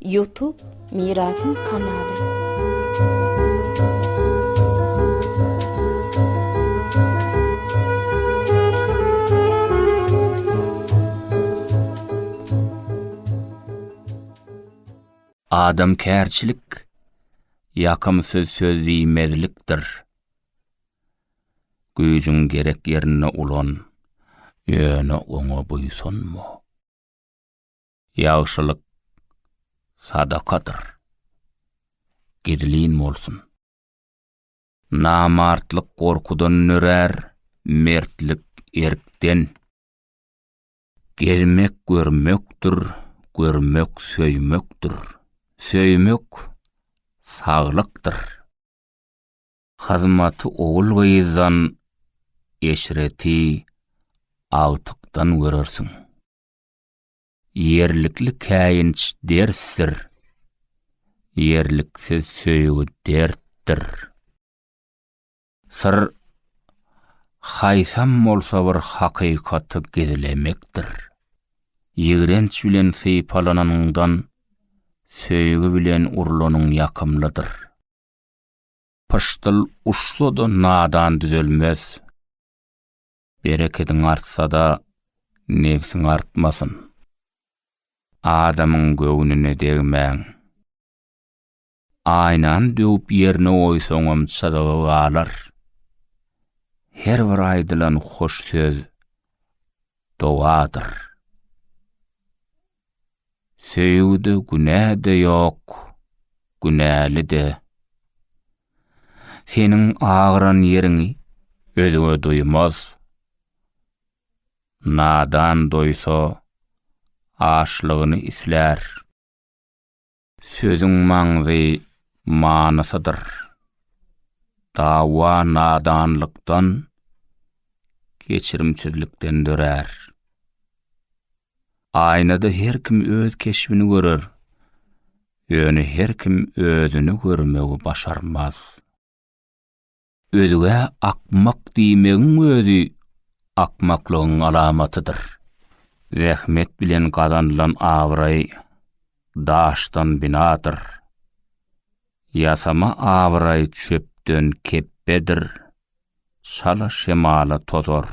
Youtube Mirasym kanaly. Adamkärçilik, ýakymsyz söz diýmezlikdir. Güýjüň gerek ýerinde ulan, ýöne oňa buýsanma. Ýagşylyk sadakadyr. Gizlin bolsun. Namartlyk gorkudan nörär, mertlik erkden. Gezmek görmekdir, görmek söýmekdir. Söýmek saglykdyr. Hyzmaty ogul-gyzdan, eşreti agtykdan görersiň. Ýerlikli käýinç dersdir. Ýerliksiz söýgi dertdir. Syr haýsam bolsa bir hakykaty gizlemekdir. Ýigrenç bilen sypalananyňdan söýgi bilen urlanyň ýakymlydyr. Pyşdyl uçsa-da nadan düzelmez. Berekediň artsa-da, nebsiň artmasyn. Adamyň göwnüne degmäň. Aýnany döwüp ýerine goýsaňam çyzygy galar. Her bir aýdylan hoş söz dogadyr. Söýgüde günä-de ýok, günäli-de. Seniň agyran ýeriňi özge duýmaz. Nadan doýsa, açlygyny islär. Sözüň maňzy manysydyr. Dawa nadanlykdan, geçirimsizlikden dörär. Aýnada her kim öz keşbini görer, ýöne her kim özüni görmegi başarmaz. Özgä akmak diýmegiň özi akmaklygyň alamatydyr. Zähmet bilen gazanylan abraý daşdan binadyr. Ýasama abraý çöpden kepbedir, şala şemala tozar.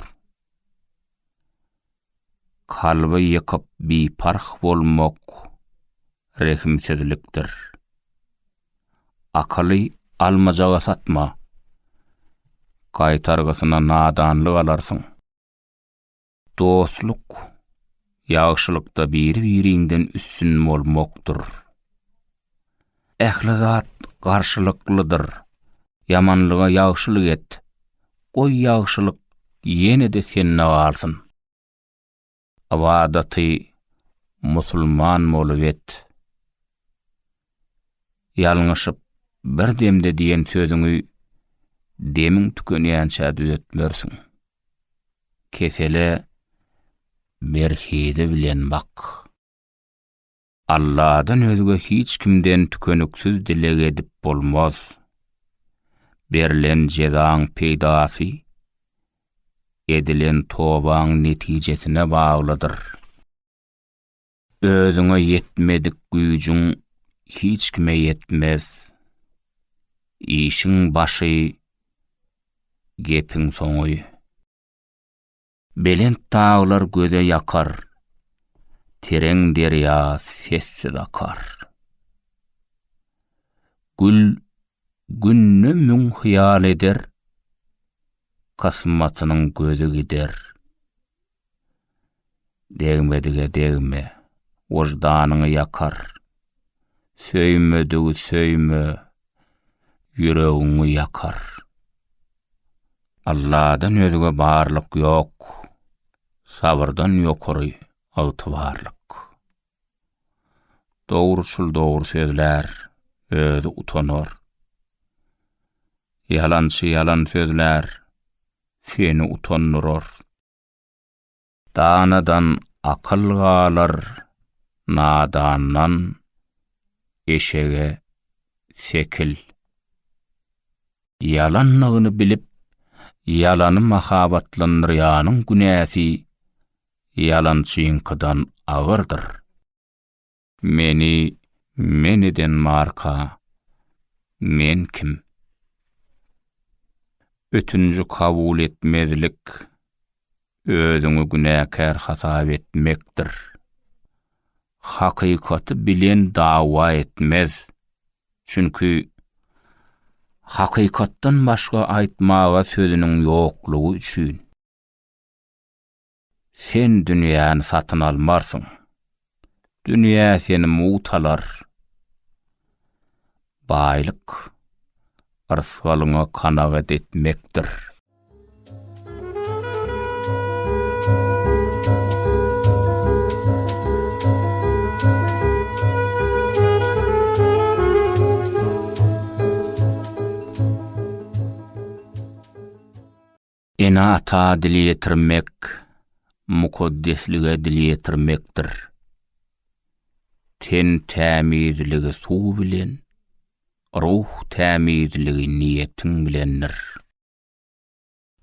Kalby ýykyp biparh bolmak rehimsizlikdir. Akyly almajaga satma, gaýtargysyna nadanlyk alarsyň. Dostluk, ýagşylykda biri-biriňden üstün bolmakdyr. Ähli zat garşylyklydyr. Ýamanlyga ýagşylyk et. Goý ýagşylyk ýene-de sende galsyn. Ybadaty musulman bolup et. Ýalňyşyp bir demde diýen sözüňi demiň tükenýänçä düzetmersiň. Kesele berhizi bilen bak. Alladan özge hiç kimden tükeniksiz dileg edip bolmaz. Berlen jezaň peýdasy edilen tobaň netijesine baglydyr. Özüňe ýetmedik güýjüň hiç kime ýetmez. Işiň başy, gepiň soňy. Belent daglar göze ýakar, tereň derýa sessiz akar. Gül günde müň hyýal eder, kysmatynyň gözi gider. Degmedige degme, wyždanyňy ýakar. Söýmedigi söýme, ýüregiňi ýakar. Alladan özge barlyk ýok, Sabyrdan ýokary ygtybarlyk. Dogruçyl dogry sözlär, özi utanar. Ýalançy ýalan sözlär, seni utandyrar. Danadan akyl galar, nadandan eşege sekil. Ýalanlygyny bilip, ýalany mahabatlandyrýanyň günäsi ýalançyňkydan agyrdyr. Meni men eden marka men kim? Ötünji kabul etmezlik özüňi günäkär hasap etmekdir. Hakykaty bilen dawa etmez. Çünki hakykatdan başga aýtmaga sözüniň ýoklugy üçin. Sen dünýäni satyn almarsyň. Dünýä seni mugt alar. Baýlyk, yrsgalyňa kanagat etmekdir. Ene-ata dil ýetirmek, mukaddeslige dil ýetirmekdir. Ten tämizligi suw bilen, ruh tämizligi niýetiň bilendir.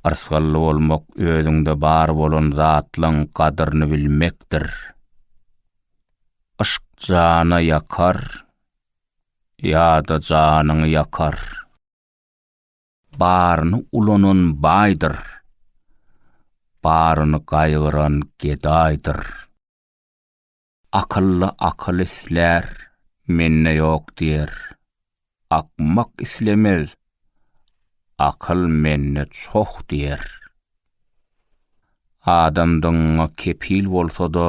Yrsgally bolmak özüňde bar bolan zatlaň gadyryny bilmekdir. Yşk jana ýakar ýa-da janyňy ýakar. Baryny ulanan baýdyr. Baryny gaýgyran gedaýdyr. Akylly akyl islär, mende ýok diýer. Akmak islemez, akyl mende çoh diýer. Adamdygyňa kepil bolsa-da,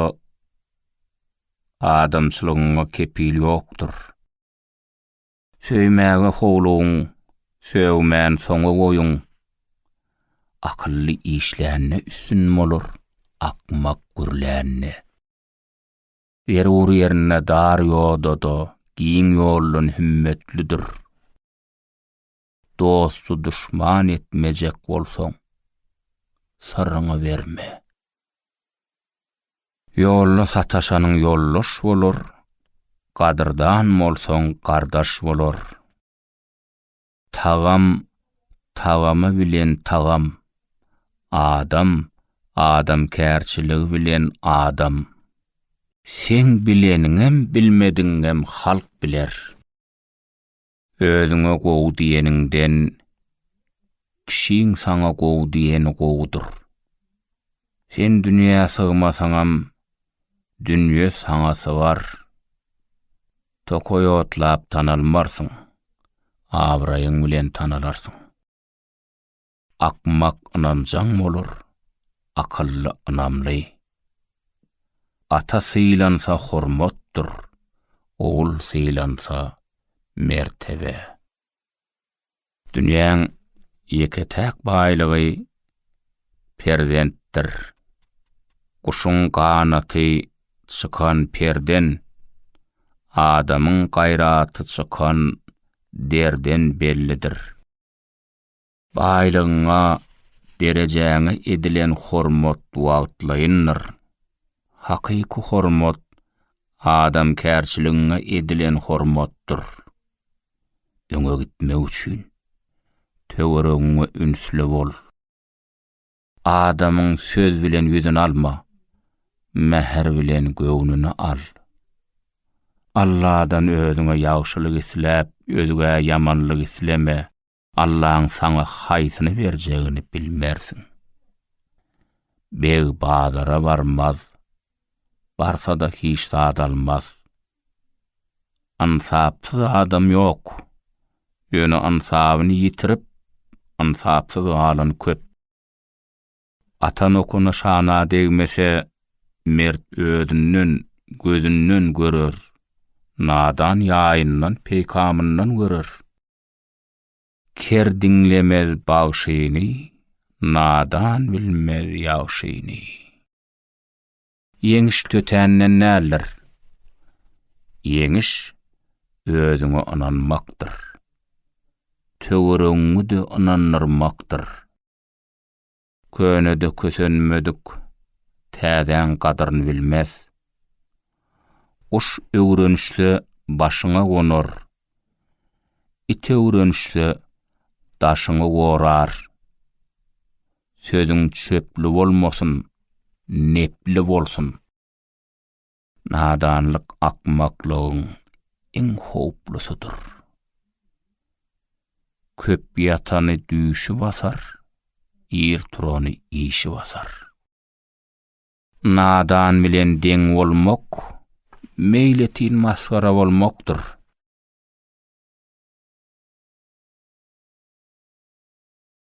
adamçylygyňa kepil ýokdur. Söýmäge howlugyň, sögmän soňa goýuň. Akylly işlände üstün bolar, akmak gürlände. Zerur ýerinde dar ýoda-da, giň ýoldan hümmetlidir. Dosty duşman etmejek bolsaň, syryňy berme. Ýolda sataşanyň ýoldaş bolar, gadyrdan bolsaň gardaş bolar. Tagam tagamy bilen tagam, adam adamkärçiligi bilen adam. Seň bileniňem bilmedigiňem halk biler. Özüňe gowy diýeniňden kişiň saňa gowy diýeni gowudyr. Sen dünýä sygmasaňam, dünýe saňa sygar. Tokaý otlap tanalmarsyň, abraýyň bilen tanalarsyň. Akmak ynanjaň bolar, akylly ynamly. Ata sylansa hormatdyr, ogul sylansa mertebe. Dünýäň ýeke-täk baýlygy perzentdir. Guşuň ganaty çykan perden, adamyň gaýraty çykan derden bellidir. Baýlygyňa, derejäňe edilen hormat wagtlaýyndyr. Hakyky hormat adamkärçiligiňe edilen hormatdyr. Öňe gitmek üçin, töweregiňe ünsli bol. Adamyň söz bilen ýüzüni alma, mähir bilen göwnüni al. Alladan özüňe ýagşylyk isläp, özgä ýamanlyk isleme. Allaň saňa haýsyny berjegini bilmersiň. Beg bazara barmaz, barsa-da hiç zat almaz. Ynsapsyz adam ýok, ýöne ynsabyny ýitirip, ynsapsyz galan köp. Atan okuna şana degmese, mert özünden, gözünden görer, nadan ýaýyndan, peýkamyndan görer. Ker diňlemez bagşyny, nadan bilmez ýagşyny. Ýeňiş tötänden däldir. Ýeňiş özüňe ynanmakdyr. Töweregiňi-de ynandyrmakdyr. Könede kösenmedik, täzäň gadyryn bilmez. Guş öwrenişse başyňa gonar, it öwrenişse daşyňy gorar. Sözüň çöpli bolmasyn, nepli bolsun. Nadanlyk akmaklygyň iň howplusydyr. Köp ýatany düýşi basar, ir turany işi basar. Nadan bilen deň bolmak, meýletin masgara bolmakdyr.